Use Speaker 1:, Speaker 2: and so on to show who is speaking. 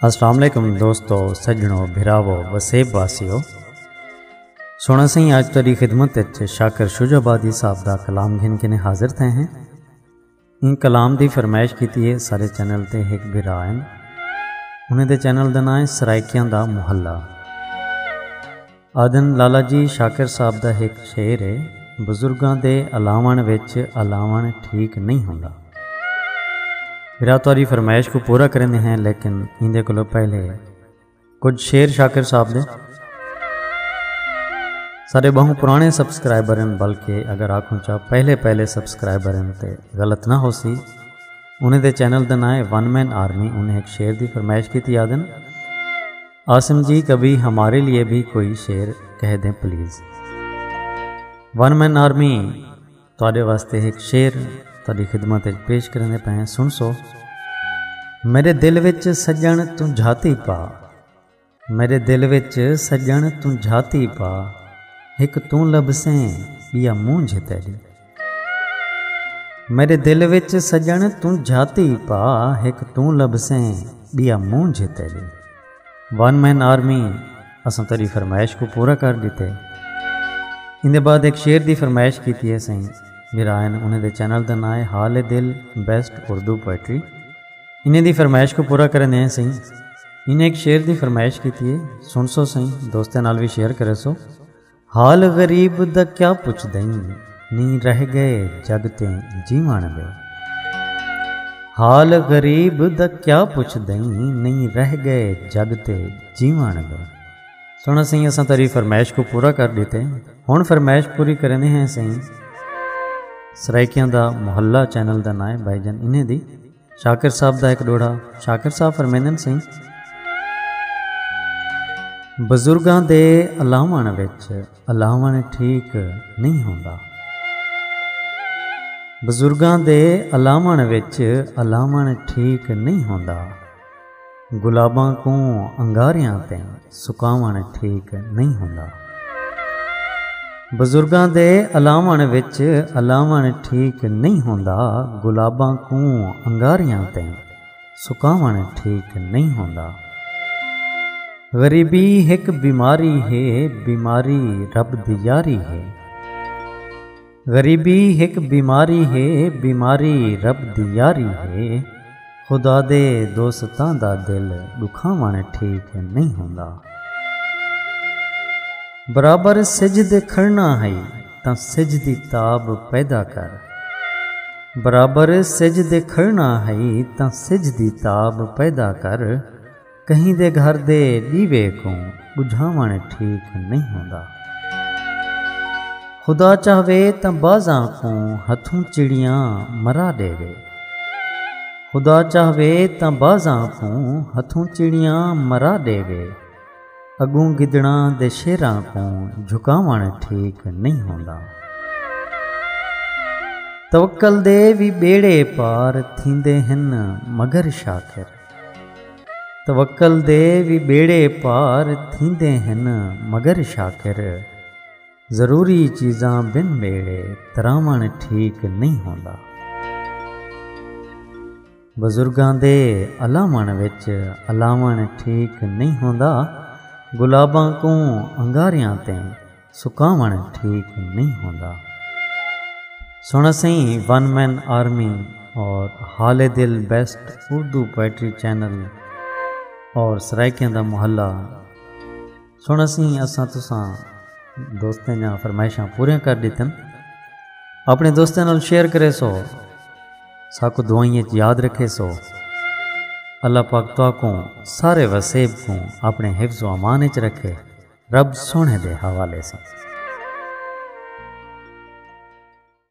Speaker 1: السلام علیکم دوستو سجنو بھراو وسیب واسیو سونا سائیں آج تیری خدمت اچ شاکر شج آبادی صاحب دا کلام گھن کے نے حاضر تھے ہیں ان کلام دی فرمائش کیتی ہے سارے چینل تے ایک بھرا ہیں انہیں دے چینل دا نام ہے سرائکیاں دا محلہ آدھن لالا جی شاکر صاحب دا ہک شعر ہے بزرگاں دے الاوݨ وچ الاوݨ ٹھیک نہیں ہوندا میرا توری فرمائش کو پورا کرنے ہیں لیکن ایندے کولو پہلے کچھ شعر شاکر صاحب دے سارے بہوں پرانے سبسکرائبر ہیں بلکہ اگر آکھوں چاہ پہلے پہلے سبسکرائبر ہیں تے غلط نہ ہو سی انہیں دے چینل دا نام ہے ون مین آرمی انہیں ایک شعر دی فرمائش کی تھی آدن عاصم جی کبھی ہمارے لیے بھی کوئی شعر کہہ دیں پلیز ون مین آرمی تھوڑے واسطے ایک شعر تھوڑی خدمت پیش کرنے پہ سن سو میرے دل وچ سجن توں جھاتی پا میرے دل وچ سجن توں جھاتی پا ایک توں لبسیں بیا مونجھ تیری میݙے دل وچ سڄݨ توں جھاتی پا ہک توں لبھسیں ٻیا مونجھ تیݙے ون مین آرمی اساں تیݙی فرمائش کوں پورا کر ݙتے ایندے بعد ہک شعر دی فرمائش کیتی ہے سائیں میرائن انہیں دے چینل دا ناں ہے حال دل بیسٹ اردو پوئٹری انہیں دی فرمائش کو پورا کرن دے ہیں سائیں انہیں ایک شعر دی فرمائش کیتی ہے سن سو سائیں دوستاں نال وی شیئر کرے سو حال غریب دا کیا پچھدئیں نی رہ گئے جگ تے جیوݨ دے۔ حال غریب دا کیا پچھدئیں نی رہ گئے جگ تے جیوݨ دے۔ سونا سئیں اساں تیری فرمائش کو پورا کر ڈیتے ہن فرمائش پوری کریندے ہیں سئیں سرائیکیاں دا محلہ چینل دا نائیں بھائی جان انہیں دی شاکر صاحب دا ہک ڈوہڑا شاکر صاحب فرمیندن سی بزرگاں دے الاون وچ الاون ٹھیک نہیں ہوندا بزرگاں دے الاون وچ الاون ٹھیک نہیں ہوندا گلاباں کوں انگاریاں تے سکاوݨ ٹھیک نئیں ہوندا۔ بزرگاں دے الاوݨ وچ الاوݨ ٹھیک نئیں ہوندا۔ گلاباں کوں انگاریاں تے سکاوݨ ٹھیک نئیں ہوندا۔ غریبی ہک بیماری ہے بیماری رب دی یاری ہے۔ غریبی ہک بیماری ہے بیماری رب دی یاری ہے خدا دے دوستاں دا دل ڈکھاون ٹھیک نہیں ہوندا برابر سج دے کھڑنا ہئی تاں سج دی تاب پیدا کر برابر سج دے کھڑنا ہئی تاں سج دی تاب پیدا کر کہیں دے گھر دے ݙیوے کوں ٻجھاوݨ ٹھیک نئیں ہوندا۔ خدا چاہوے تاں بازاں کوں ہتھوں چڑیاں مرا ݙیوے۔ خدا چاہوے تاں بازاں کوں ہتھوں چڑیاں مرا ݙیوے۔ اڳوں گدڑاں دے شیراں کوں جھکاوݨ ٹھیک نئیں ہوندا۔ توکل دے وی ٻیڑے پار تھیندے ہن مگر شاکر۔ توکل دے وی ٻیڑے پار تھیندے ہن مگر شاکر ضروری چیزاں بن ٻیڑے تراوݨ ٹھیک نئیں ہوندا۔ بزرگاں دے الاوݨ وچ الاوݨ ٹھیک نئیں ہوندا گلاباں کوں انگاریاں تیں سکاوݨ ٹھیک نئیں ہوندا۔ سݨ اسیں ون مین آرمی اور حال دل بیسٹ اردو پوئٹری چینل اور سرائیکیاں دا محلہ سݨ اسیں اساں تساں دوستیں جاں فرمائشاں پوریاں کر ڈیتن اپنے دوستیں نال شیئر کرے سو ساکو دعائیں اچ یاد رکھے سو اللہ پاک تواکوں سارے وسیب کوں اپنے حفظ و امان اچ رکھے رب سوہݨے دے حوالے ساں۔